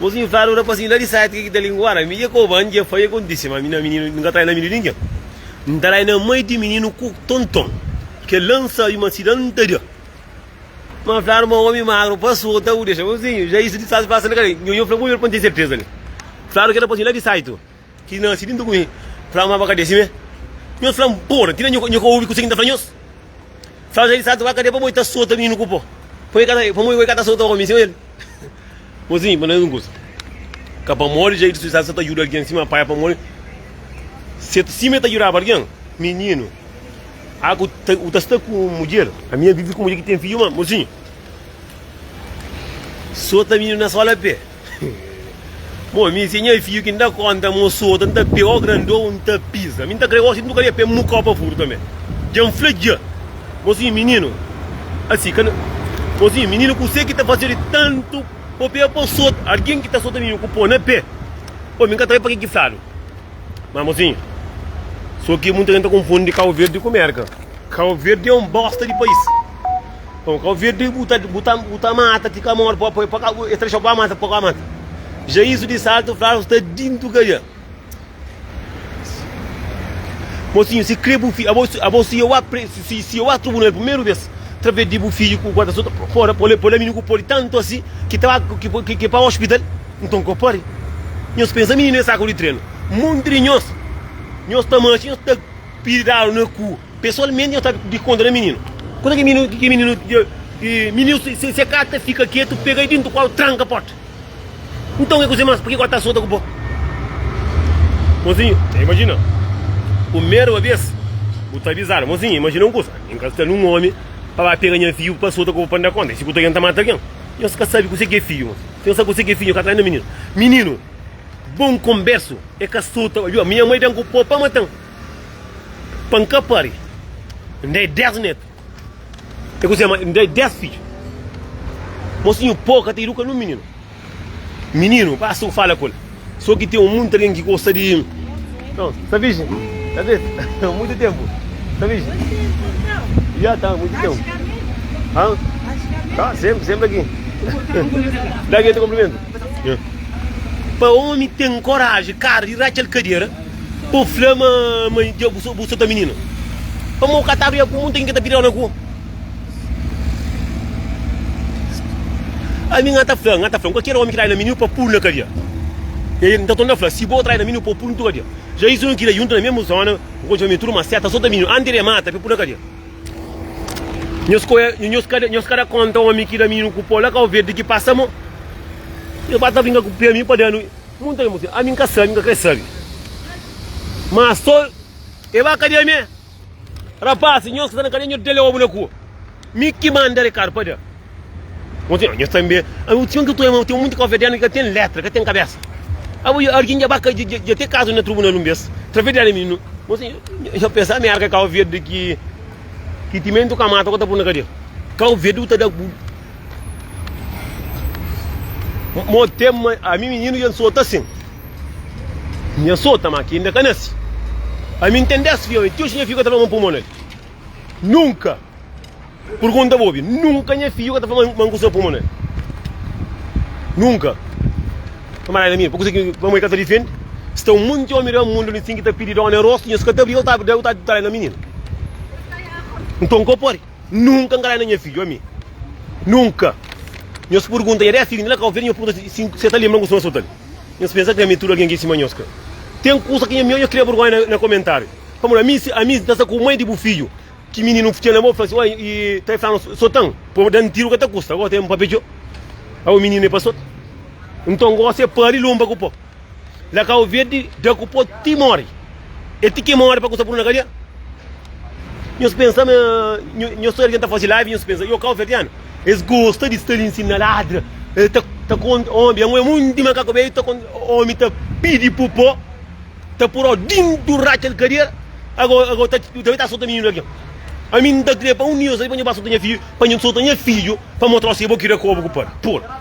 Nos infernu na pasin la di seti ke ki ta lingua na mi dje ko ban dje fai akontise ma mi na mininu nunka trai na mi di ningen N trai na mai di mininu ku tonton ke la N sabi ma si da N ta da ma N fla-nu ma omi magru pa sota bu dexa N fla-u sin ja isu di sas pasa na kale Nho-nho fla-m un ber pa N ten serteza li Fla-nu ke na pasin la di saitu Ki nase dintu ku mi fla ma, Ba ka dese-m. Nhos fla, N pô-l. Atina nho ka obi kuse ki N ta fla nhos. Fla Jezus, Santu, ba ka de pamodi ta sota mininu ku pó, pamodi bo i ka ta sota omi sima el. Bo sibi ma na un kuza, ka pamodi Jezus Kristus Santu sa ta djuda algen sima Pai, pamodi sima el ta djudaba algen, mininu a ku ta sta ku un mudjer, ami a vive ku mudjer ki ten fidju. Má, mosinhu, sota mininu na sola pé. Bom, mi se nha fiu ki n ta konta ma un sota, n ta pê o grandon, n ta piza. Mi n ta kre gosi, nunka dja pê mukau pa furu tanbe. Dja n fla dja. Mozinhu mininu, asi ka na. Mozinhu mininu, kuse ki ta fase-u di tantu bo pega pa sota algin ki ta sota mininu ku po na pé? Bom, mi ka ta sabe pa ki ki fladu. Ma mozinhu, so ki munta gen ta konfundi Kauverdi ku Merka. Cabo Verde é um bosta de país. Então Cabo Verde bu ta bu ta bu ta mata ti ka morre pa pa pa ka e trexa pa mata pa ka mata. Já isso de salto fla nos ta dinto ka dja. Mocinho si cre bu fi abo abo si eu a pre si si eu a trubunal primeiro vez través de bu filho ku guarda so pora pole pole menino ku pode tanto asi ki ta ba ki ki ki pa hospital então ko pare. Nhos pensa menino é saco de treno. Monte de nhos nhos ta macha nhos ta. Pidi dadu na ku. Pesualmenti nhos sabi di konta da mininu. Konta ki mininu ki mininu ki mininu se se ka ta fika ketu pega-i dintu kolu tranka porta. Nton ke ku se mas purkiko ta sota ku bo. Mozinhu ta imajina pumerba bes bu ta avizadu mozinhu imajina un kusa N ka sta nun omi pa ba pega nha fiju pa sota ku bo pa N da konta N sikuta algen ta mata algen nhos ka sabi kuse ke fiju nhos si nhos sabi kuse ke fiju nhos ka trai na mininu mininu bon konbersu e ka sota obi o minha mai ben ku po pa matan. Pa N ka pari, N da-i dés nétu. É kuzê má, N da-i dés fidju. Mosinhu Pó ka ta iduka nen un mininu. Mininu pasa un fala ku el. Sô ki ten un monti algen ki gosta di. Nton, sta virjen? Sta virjen? Nton, monti ténpu. Sta virjen? Dja ta monti ténpu. Hã? Tá, sénpri, sénpri aki. Da ki el ta konprimentu. Pa ómi ten koraji, kara di ratxa-l kadera. Bu fla ma ma dja bu so bu so ta minina. Pa mau katadu ya ku mun ten ke ta pidau na ku. Ami nga ta fla, nga ta fla, kualker omi ki trai na miniu pa pul na kadia. Ya ya nta ton ta fla, si bo trai na miniu po pul ntu kadia. Ja isu nu kida yuntu na mesmu zona, bu konxe famia tudu ma seta so ta miniu anti de mata pe pul na kadia. Nhos koe nhos kada nhos kada konta omi ki da mininu ku po la kau verdi ki pasa mo. Nhos ba ta vinga ku pe ami pa danu Muita algen pode sibi, ami nka sabi, nka kre sabi. Ma so e ba kadia me. Rapaz, nhos ki sta na kadia nhos dele obu na ku. Mi ki manda Ricardo pa da. Kontinua, nhos tambi, ami txon ki toma, ten muita kofia dena ki ka ten letra, ka ten kabesa. Abo dja algen dja ba ka dja ten kazu na trubunal un bes, traves dela mi nu. Kontinua, nhos pensa ami arka Kau Verdi ki ki timentu ka mata ku ta pun na kadia. Kau Verdi ku ta da. Mo tem ma ami mininu dja nsota sin. Nha sota ma ki inda ka nasi. Ami n ten 10 fiawe ti oxi nha fiu ka ta fla ma n pui mon na el. Nunka! Purgunta bo obi, nunka nha fiu ka ta fla ma n kusa pui mon na el. Nunka! Kamarada Amir, pa kuzê ki pamodi ka ta difendi? Sta un monti omi da mundu li sin ki ta pidi dóna el rostu, nhos ka ta briga, el ta el ta ta dai na mininu. Nton, ka pode. Nunka n ka da na nha fidju, ami. Nunka! Nhos purgunta, nha dés fidju? Nila ka oferta, nhos purgunta si se ta lenbra un kusa nhos fla-l. Nhos pensa krê mi tudu algen ki sima nhos ka ten kusa ki nhos kria burgonha na komentariu. Pamodi ami, ami n ta sta ku mai di bu fidju ki mininu n fitxa na bo, fla si, Oi, i ta flanu sotan? Pô, da-m tiru ka ta kusta. Gosi é un papetxô. Au, mininu é pa sot. Nton, gosi é pâ di lunba ku pô. Na Cabo Verde, dja ku po ti mori. E ti ki mori pa ku sa punu na kadia. Nhos pensa ma nhos ta ta fazi live nhos pensa, yo Cabo Verdeano, es gosta di sta li nsin na ladra, e ta ta konta omi ben un monti di makaku ben ta konta omi ta pidi pu po ta puro dintu ratxa di kadia ago ago ta ta bai ta sota mininu algin. Ami nta kria pa un di nhos pa nhos ba sota nha fiju pa nhos sota nha fiju pa motrau si bo kira kobu ku panu. Pul.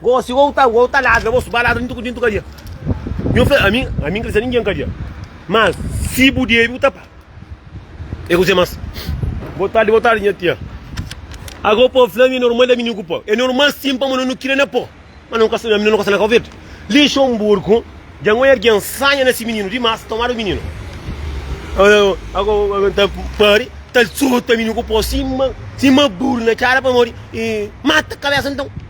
Gosi ou ta ou ta ladra bo su ba ladra dintu dintu kadia nhu fla ami ami n krê ser ingen kadia mas si bu debi bu ta pa e kuzê mas. Boa tarde, boa tarde nha tia. Agô pô fla mi é normal ami nu ku pô. É normal sim pamo nu nu kira na pô. Mas nu nu ka nu nu ka sa na covid. Lixonburgu dja ngoi argen sanha na si mininu dimas tomadu mininu. Agô agô agô ta pari ta sota mininu ku pô sima sima buru na cara pamodi e mata kabesa nton.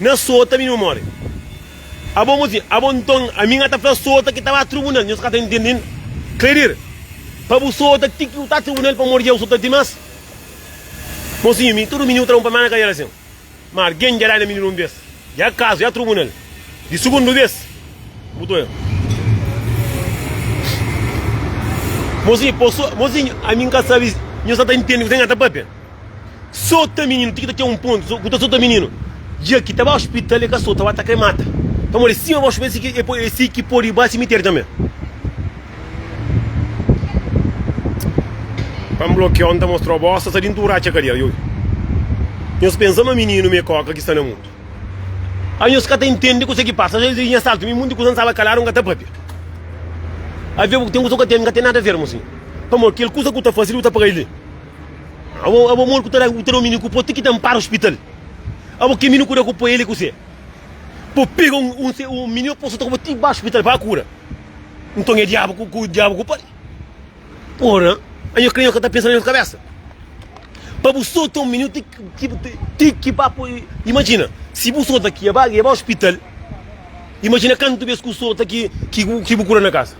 Na sota mi nu more. Abo mo si, abo nton ami nga ta fla sota ki ta ba trubunal, nhos ka ta ntende inda. Klerir, pa bu sota ti ki u ta trubunal pamodi jau sota dimas. Mosinhu mi, tudu mininu ta da un palmada na kadera sin. Ma argen dja dana mininu un bes, i akazu ya trubunal di sugundu bes? Bu ta oja. Mosi, po so, mosinhu ami nka sabi si nhos ka ta ntende kuze nga ta papia. Sota mininu ti ki ta ten un pontu ku ta sota mininu dja ki ta ba ospital e ka sota ba ta kre mata pamodi sima ba ospital e si ki podi ba simiteri tanbe pa n blokiau n ta mostrau bos sa sa di ntudu ratxa kadia ioio nhos pensa ma mininu mi e koka ki sta na mundu a nhos ka ta intendi kuse ki pasa nhos nha saltu mi munti kusa n staba kaladu n ka ta papia avia bu ten kusa ku ka ten n ka ten nada ver mo sinhor pamodi kel kusa ku ta fasi li bu ta paga li. Abo modi ku ta da ku mini ku po ti ki ta ampara hospital. Abo ke mini ku da ku po ele ku se. Po pega un un se un mini po sota ku po ti ba hospital pa kura. Nton e diabu ku ku diabu ku pari. Ora, a nho kre nho ka ta pensa na nho kabesa. Pa bu sota un mini ti ki ti ki ba po imajina si bu sota ki e ba e ba hospital imajina kantu bes ku sota ki ki ki bu kura na kasa.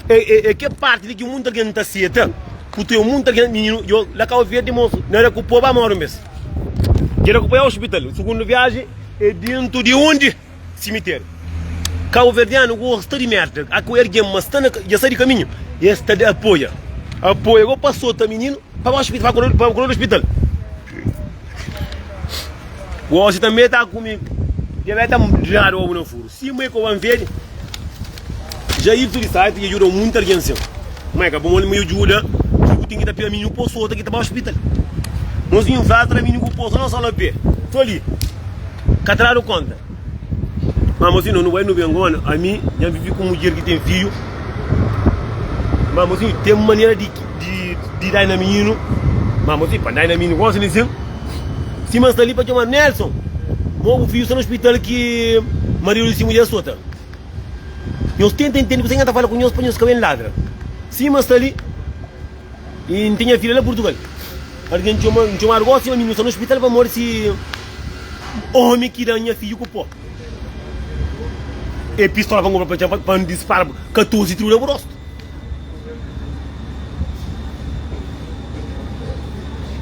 É é kel parti li ki mutu algen n ta seta ku ten mutu algen mininu djo la kau verdi mosu na éra ku po ba moru mes dje la ku po ya ospital sugundu viaji é dentu di undi simiteri kau verdianu gosta di merda a ku ergen ma sta na dja sai di kaminhu e sta di apoia apoia go pa sota mininu pa ba ospital pa kolo pa kolo di ospital gosi tanbe ta ku mi dja be ta dradu obu na furu. Sima e koban vede ja idu tudu estadi i juda munti algen sin ma e ka bon ma e juda ki ku tin ki ta pia minhu poso ota ki ta ba hospital nos bin fla tra minhu ku poso no so na pia so li ka ta dadu konta ma mosi no no bai no ben goma ami ja vivi ku mudjer ki ten fidju ma mosi ten manera di dai na minhinu ma mosi pa dai na minhu gosi li sin. Sima n sta li pa txomadu Nelson Mo bu fidju sta na ospital ki Maria Luiz si mudjer sota Nhos tenta intende kuzê ki nha ta fala ku nhos pa nhos ka ben ladra Sima n sta li i n ten nha fidja la Purtugal Algen txoma n txomadu gosi ma mi nu sta na ospital pamodi si omi ki da-m nha fidju ku po e pistola pa n konpra pa n txoma pa n dispara-bu 14 tribu na bu rostu.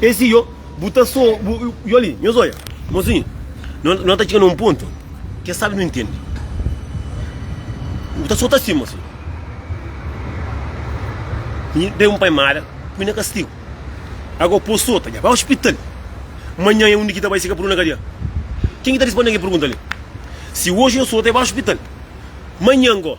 Esi yo, bu ta so, bu, yo li, nhos olha, mozinho, não, não tá chegando a um ponto que sabe não entende. Bu tá só tá assim, mozinho. E dei um pai mara, me na castigo. Agora pô solta, já vai ao hospital. Amanhã é um Nikita vai chegar por uma cadeia. Quem que tá respondendo que pergunta ali? Se hoje eu solta, vai ao hospital. Amanhã, agora.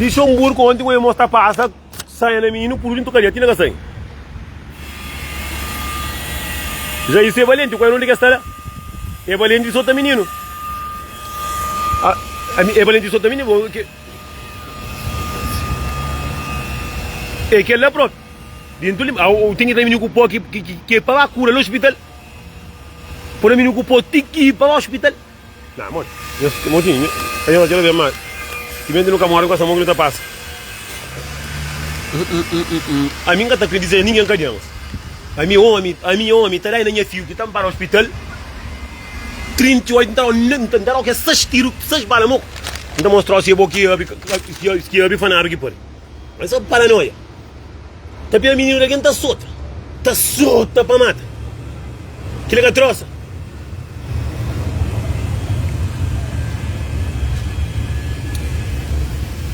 Lixonburku onti ku irmons ta pasa saia na mi nu puru dintu kadia ti na ka sai Jairso e balenti ku era un di kes ta la e balenti sota mininu e balenti sota mininu bon ke e kel la propi dintu li au tingi ta mininu ku po ki ki ki pa ba kura la hospital pura mininu ku po ti ki pa ba hospital Nah, moti. Nhos, moti, nho, pa nhos atxa la ben más. Timenti nu ka mora, nu ka sta mo ki nu ta pasa. Ami N ka ta kre dizê ningen ka djema ami omi, ami omi ta dai na nha fiu ki ta npara ospital 38 N ta dau, N ta dau kes 6 tiru, 6 bala mo, N ta mostrau si é bo ki abi, ki abi fanabi ki pari. É só paranoia. Ta pega mininu di algen ta sota. Ta sota pa mata. Kila ka trosa.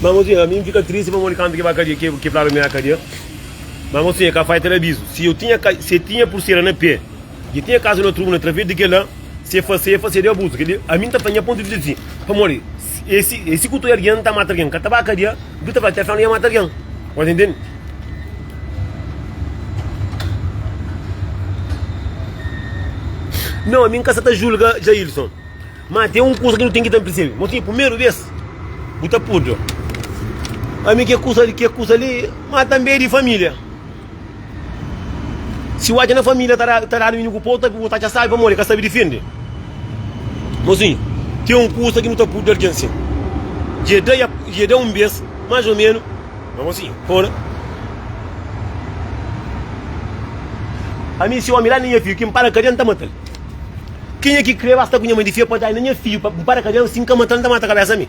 Ma mosinha mi n fika tristi pamodi kantu ki ba kadia ki ki flaba mi na kadia. Ma mosinha ka fai teleabizu si eu tinha ka si tinha pursera na pe. Dja tinha kazu na tribuna através di kel-la, se fase, fase di abuzu. Kel-li, ami N ta fla nha pontu di vista di si, pamodi e si e si ku tude algen ta mata algen ka ta ba kadia, bu ki ta fla Teflon ia mata algen. Bo ta intende? Nau, ami N ka sta ta julga Jailson, má ten un kusa ki nu ten ki ten persebe. Mo tinha primeru bês, bu ta purda ami ki kusa li, ki kusa li, má tanbê é di família. Si bu atxa na família ta dadu inimigu pô, otavi bu ta atxa sábi pamodi ka sabe difende. Mozinhu, ten un kusa ki nu ta pudi da algen sin. Dje da-i dje da-i un bês, más ô ménus. Má mozinhu, pô na. Ami si ómi da-l na nha fidju ki N para kadia, N ta mata-l. Kenha ki krê basta ku nha mai di fia pa da-i na nha fidju pa N para kadia, si N ka mata-l, N ta mata kabésa mi.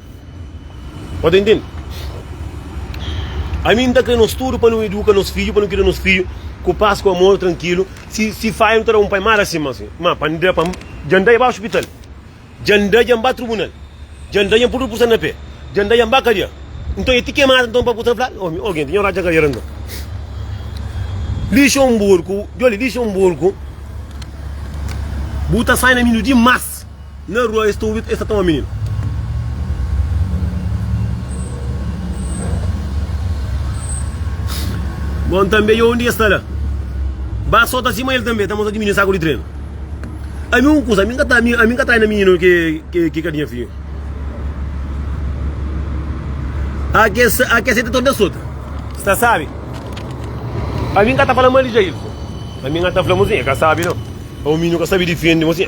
Pode entende? Ami nta kre nos tudu pa nu eduka nos fidju, pa nu kida nos fidju ku pas, ku amor, trankilu. Si si faia nu ta da un pai mara sima si. Ma pa nda pa dja nda dja ba ospital, dja nda dja nba trubunal, dja nda dja npudu pusa na pe, dja nda dja nba kadia. Nton e ti kemada nton pa ku ta fla-l? Omi, oge nta nha oradja kadiera nton. Lixonburku, djoli, Lixonburku bu ta sai na mi nu dimas. Na rua es ta obi es ta toma mininu. Bon tanbe dja undi es ta la ba so ta sima el tanbe ta mostra diminiu saku di trenu. Ami un kusa ami ka ami ka traina mininu ki ka di nha fiju. A ke a ke seta tanbe sota. Sta sabi ami ka ta fala mal di Jail ami ka ta fla mo sin e ka sabi no. O mininu ka sabi difende mo sin.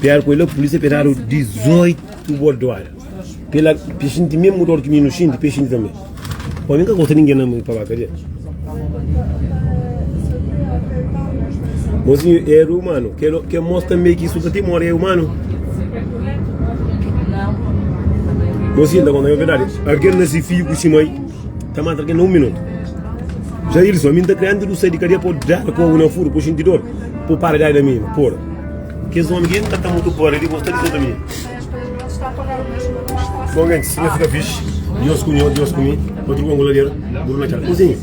Pior coisa la polícia pe dadu 18 bordoada. Pe la pe xinti mesmo dor ki mi nu xinti, pe xinti tanbe. Pô, mi ka gosta ninguém na mi pa ba kadia. Mozinho é humano. Quer, quer mostrar também que isso para ti mora é humano. Mozinho, da conta é verdade. Alguém nasce filho com si mãe. Ta mata algen na un minutu. Jailson, mi N ta kre antis di bu sai di kadia pa bu dada kobu na furu pa bu xinti dor, pa bu para di dai da mi pora. Kes omi ki N ka ta mutu gosta di bo sta di volta mi. Bon gentis, si nha fika fixi, Dios ku nho, Dios ku mi, pa tudu bon ku lader, buru na txal. Kuzinha,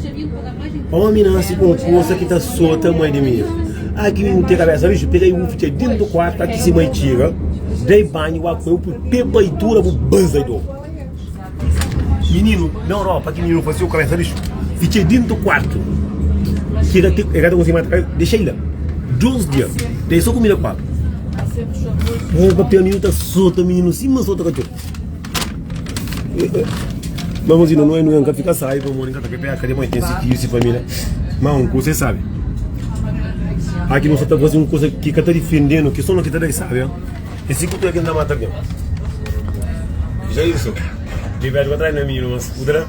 omi nasi ku un forsa ki ta sota mai di mi. Aki N ten kabesa riju, pega i bu fitxa dintu di kuartu, aki sima i txiga, dai banhu, bu akoe-u, pui pepa i tura bu baza i dobu. Mininu na Europa ki mininu fasiu ka bai faze xu i txê dintu kuartu ki e ka e ka ta konsigu mante kal dexei la dus dia ta e so kumida ku agu o papia mininu ta sota mininu sima sota katxor ma masi no noe noe nka fika sai pamodi nka ta ke peka dipoi ten si fiju si familia ma un kusa e sabe aki no sa ta fasi un kusa ki ka ta difendenu ki so no ki ta da e sabe. E si ku pé ki N ta mata algen? Jairson, dja bês pa tras na mi, ma skuta-la.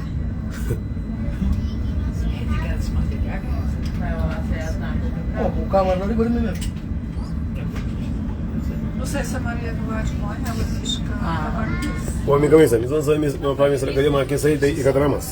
Omi ka meste, mi ta nsoia pa mi sra, kal é ma ke sai ta i ka tra más.